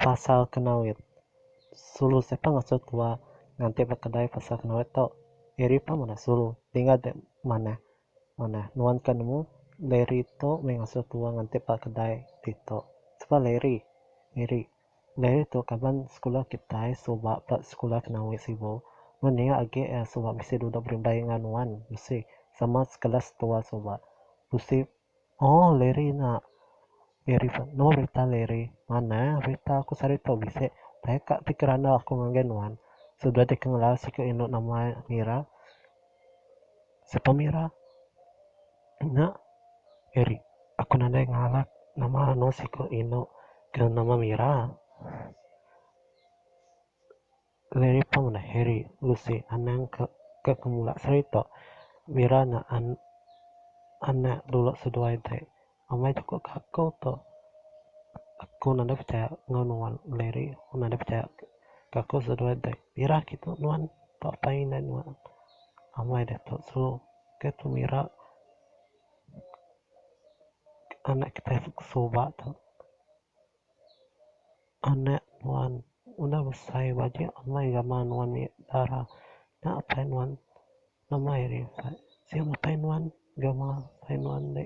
Pasal Kenawit. Sulu siapa ngasuh tua nganti ba kedai pasal Kenawit tu? Eri pun ngundah sulu. Tinggal deh manah. Manah. Nuan ke nemu Larry tu meh ngasuh tua nganti ba kedai ditu. Siapa Larry? Eri. Diary tu kaban sekula kitai suba ba sekula kena wei sibu. Mun nya agi iya suba bisi duduk berindai enggau nuan bisi sama sekelas tua suba. Bisi Aww Larry nya Larry pun nama berita Larry. Manah berita aku sehari tu bisi taika ti kerandau aku ngagai nuan. Suba deka ngelau siku indu nama iya Mira. Sepemira nya eri aku nadai ngalap nama anu siku inu kena nama mira. Lagi pa mene Harry bisi anang ke mula serita mira nya anak dulu seduai ti. Amai chukup ka aku tu. Aku nadai pechaya enggau nuan Larry. Aku nadai pechaya ka aku seduai dek. Irah agi tu nuan tau apai indai nuan. Amai ditu sulu ke tu mira anak kitai ke suba tu. Anak nuan udah besai baju amai gamal nuan nya dara. Nya apai nuan Amai ari ukat. Sio matai nuan gawa matai nuan ande.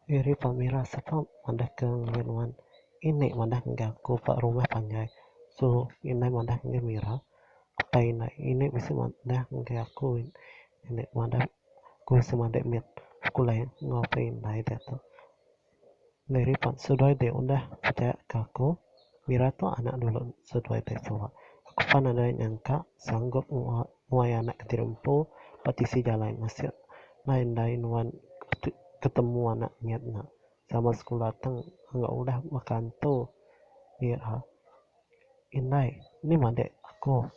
Iri pemira sapa madah ke ngagai nuan. Ini madah enggau aku ba rumah panjai. So inai madah ngagai mira. Apai ina ini bisi madah ngagai aku. Ini madah aku semadi mit sekula enggau apai indai diatu. Lei ripot seduai dek udah pejaya ke aku mira tu anak dulu seduai dek suwa aku pan nadai nyangka sanggup nguai anak kediri empu ba tisi jalai masih lai ndai nuan ketemu anak nyat nya sama sekula tang enggau udah baka antu mira indai nih madik aku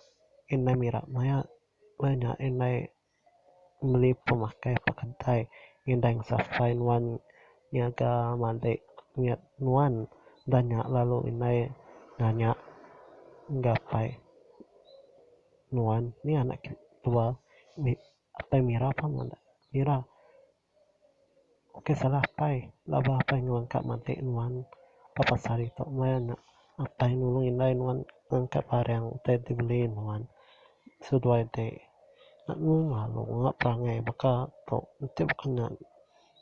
indai mira maya indai. meli pemakai peketai indai sapai nuan nyaga madik nyat nuan enda nya lalu indai nanya gapai nuan nya anak kitai tua apai mira pun meda mira. Oke salah apai laba apai nuan ka matik nuan papat sehari tu meh nya apai nulung indai nuan ngangkat barang utai ti beli nuan seduai ade lalu lalu ngga perangai baka tu enti baka nya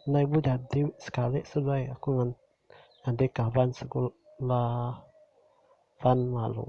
ndai bu jadi sekali seduai aku ngan adik kaban sekula pan lalu.